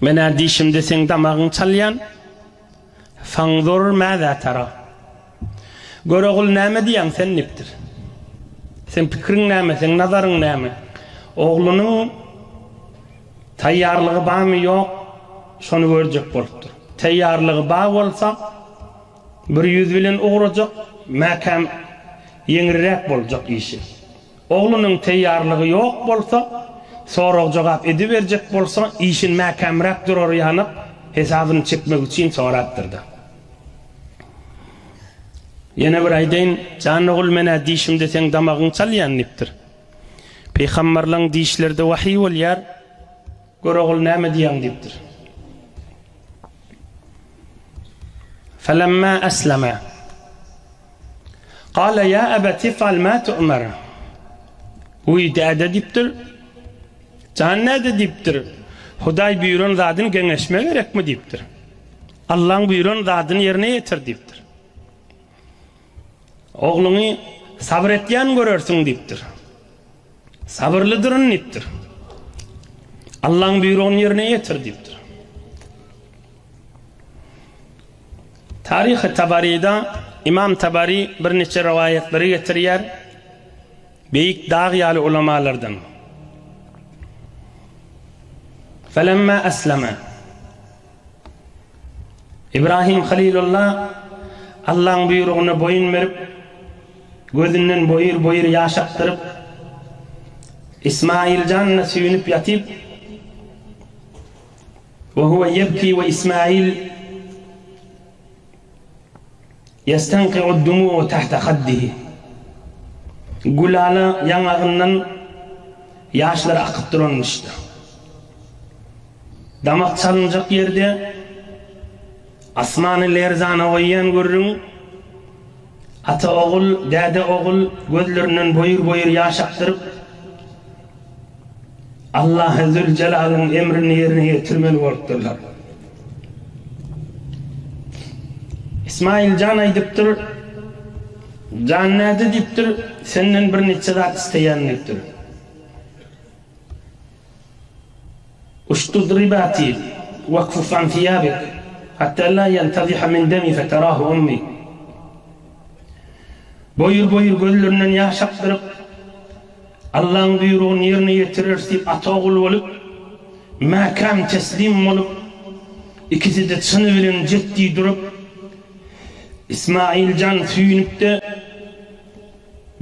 Men-ä diýşimde seň damagyň çalýan. Fanzur mäzä tara. Görogul näme diýýäň sen dipdir. Seň pikiriň näme, seň nazaryň näme? Oglunyň taýýarlygy bamy ýok, şony görjek bolupdyr. Taýýarlygy ba bolsa, bir ýüz bilen ugrajak, mäkäm ýeňriräk boljak işi. Oglunyň teýýarlygy ýok bolsa, sorag-jogap ediberjek bolsa, işin mäkämräk durary ýanyp, hesabyny çekmek üçin sorapdyr-da. Ýene bir aýdaýyn, jan ogul, men-ä dişimde seň damagyňy çalýan diýipdir. Pygamberleň dişleri-de wahyý bolýar, gör ogul näme diýýäň diýipdir. Felemma eslema. Gala ýa abat ifal ma tu'mar. Wiý däde diýipdir. Jan däde diýipdir. Hudaý buýran zadyny geňeşme gerekmi diýipdir. Allaň buýran zadyny ýerine ýetir diýipdir. Ogluňy sabyr etýän görersiň diýipdir. Sabyrlydyryn diýipdir. Allaň buýrugyny ýerine ýetir diýipdir. Taryhy Tabaryda Ymam Tabary birniçe rowaýatlary getirýär, beýik dag ýaly ulamalardan. Felemma aslama. Ibrahim Halilulla Allaň buýrugyna boýun berip, gözünden boýur-boýur ýaş akdyryp, Ismaýyljanyna süýnüp ýatyp, Ve huve yebki ve İsmail yestenki'u'd-dumu'u tahta haddihi. Gülala ýaňagyndan ýaşlary akyp duran işde. Damak çalynjak ýerde asmany lerzana goýýan gürrüň, ata-ogul, däde-ogul gözlerinden boýur-boýur ýaş akdyryp, Allahy Züljelalyn emrini ýerine ýetirmeli bolupdyrlar. Ismaýyl jan aýdypdyr, Jan näde diýipdir, senden bir niçe zat isleýän diýipdir. Uştud ribati wakfuf an fiýabik hatta la ýantaziha min demi fetarahu ummi. Boýur-boýur gözlerinden ýaş akdyryp, Allaň buýrugyny ýerine ýetireris diýip ata-ogul bolup, mäkäm teslim bolup, ikisi-de çyny bilen jetdi durup, Ismail jan süýnüp-de,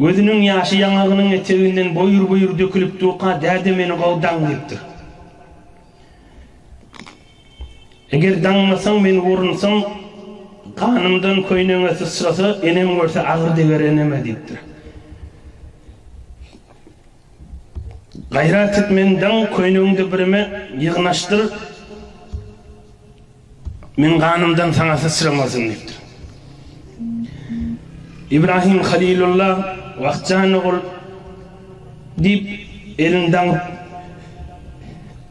gözüniň ýaşy ýaňagynyň eteginden boýur-boýur dökülip durka, Däde meni gowdaň diýipdir. Eger daňmasaň men urunsaň, ganymdan köýneňe syçrasa, enem görse agyr deger eneme, diýipdir. Gaýrat et, meni daň, köýnegiňde birime ýygnaşdyr, meň ganymdan saňa syçramasyn, diýipdir. Ibrahim Halilulla, Wah, jan ogul, diýip, elini daňyp,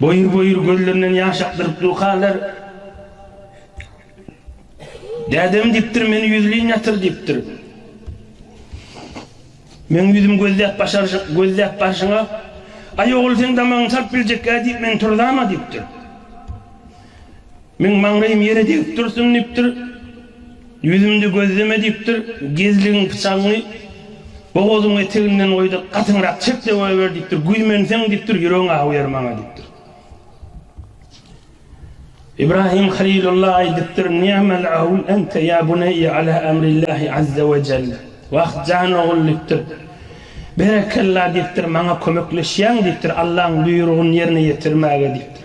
Boýur-boýur gözlerinden ýaş akdyryp durkalar, Dädem diýipdir, meni ýüzleýin ýatyr diýipdir. Meň ýüzüm gözläp başaryşyň, gözläp barşyňa, Aý ogul seň damagyňy salyp biljek-gä diýip men turzam-a diýipdir. Meň maňlaýym ýere degip dursun diýipdir. Ýüzümde gözleme diýipdir. Gezligiň pyçagyňy bogazyň eteginden goý-da, gatyňrak çek-de goýber diýipdir. Güýmenseň diýipdir, ýüregiň awuýar maňa diýipdir. Ibrahim Halilulla aýdypdyr, Ni'mal awl ente ýa buneýe ala amrillahi azze we jell. Wah, jan ogul diýipdir. Berekella diýipdir, maňa kömekleşýäň diýipdir, Allaň buýrugyny ýerine ýetirmäge diýipdir.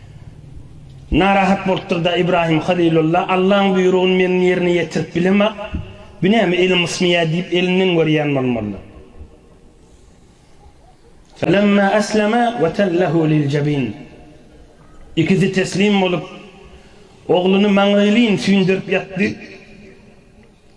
Narahat bolupdyr-da Ibrahim Halylulla, Allaň buýrugyny men ýerine ýetirip bilemok, bu näme elim ysmaýar diýip elinden görýän bolmalydyr. Felemma eslema we tellehu liljebin. Ikisi teslim bolup, ogluny maňlaýlyn süýndürip ýatdy.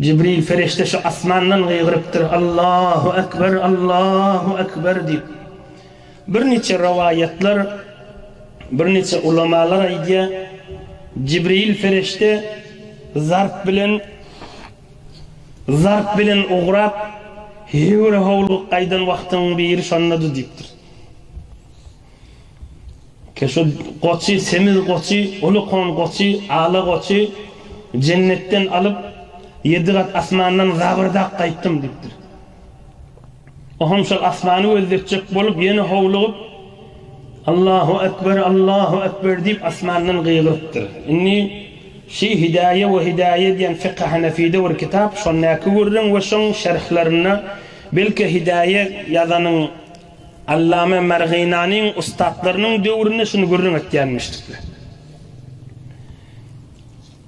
Jibril perişde şu asmandan gygyrypdyr, Allahu ekber, Allahu ekber diýip. Birniçe rowaýatlar, birniçe ulamalar aýdýar, Jibril perişde zarp bilen zarp bilen ugrap, höwür-howluk gaýdan wagtyň biri şondady diýipdir. Keşo goçy, semiz goçy, uly kon goçy, ala goçy jennetden alyp, ýedi gat asmandan zabyrdap gaýtdym diýipdir. Oham şol asmany gözletjek bolup, ýene howlugyp, Allahu ekber, Allahu ekber diýip, asmandan gygyrypdyr. Indi Şi hidaýe we hidaýe diýen Fiki Hanefide bir kitap, şondaky gürrüň we şoň şerhlerinde belki hidaýe ýazanyň Allama Marginanyň ussatlarynyň döwründe şuny gürrüň etýänmişdikler.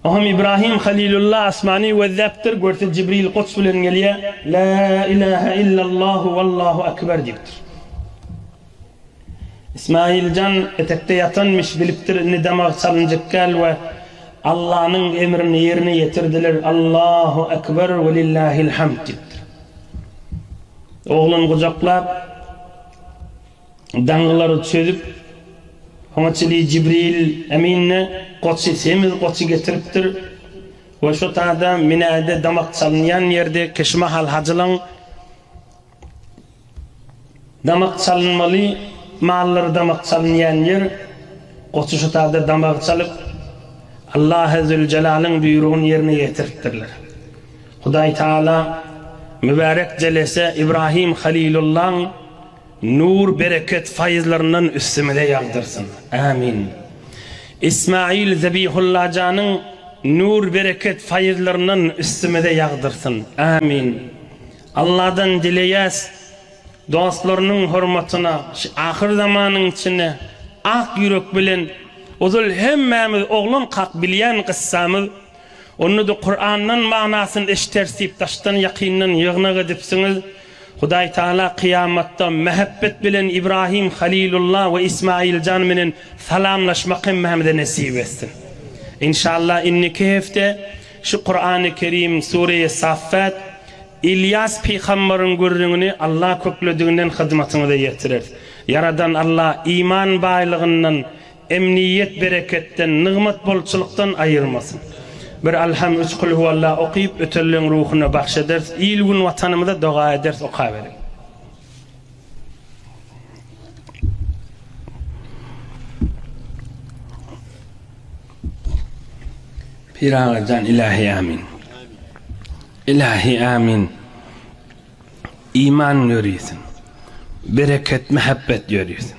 Oňam Ibrahim Halilulla asmany gözläpdir, görse Jibril goç bilen gelýär, La ilahe illallahu wallahu ekber diýipdir. Ismailjan etekde ýatanmyş, bilipdir indi damak çalynjykkäl we Allanyň emrini ýerine ýetirdiler, Allahu ekber welillahil hamd diýipdir. Oglan gujaklap, daňylary çözüp, oňa çili Jibril emin-de goçy, semiz goçy getiripdir we şo taýda minäýde damak çalynýan ýerde kişi mahal hajylaň damak çalynmaly mallary damak çalynýan ýer, goçy şo taýda damagy çalyp, Allahy Züljelalyn buýrugyny ýerine ýetiripdirler. Hudaý Tagala mübärek jelese Ibrahim Halilullaň nur, bereket, faýyzlaryndan üstümize ýagdyrsyn. Ämin. Ismail Zebihullajanyň nur, bereket, faýyzlaryndan üstümize ýagdyrsyn. Ämin. Alladan dileýäs, dostlarynyň hormatyna şu ahyr zamanyň içinde ak ýürek bilen ozal hemmämiz oglankak bilýän gyssamyz Onda-da Kurandan manasyny eşiteris diýip daşdan-ýakyndan ýygnak edipsiňiz. Hudaý Tagala kyýamatda mähebbet bilen Ibrahim Halilulla we Ismailjan menen salamlaşmak hemmämize nesip etsin. Inşallah indiki hepde şu Kurany Kerim Sureýe Saffat Ylýas pygambaryň gürrüňini Alla köklediginden hyzmatyňyza ýetireris. Ýaradan Alla iman baýlygyndan Emniýet bereketden, nygmat bolçulykdan aýyrmasyn. Bir Alham, üç Kulhuwalla okyp, ötelleriň ruhuna bagş ederis. Il-gün Watanymyza doga ederis. Okaberiň. Pyragyjan Ilahi Amin. Ilahi Amin. Iman ýörisin. Bereket, mähebbet ýörisin.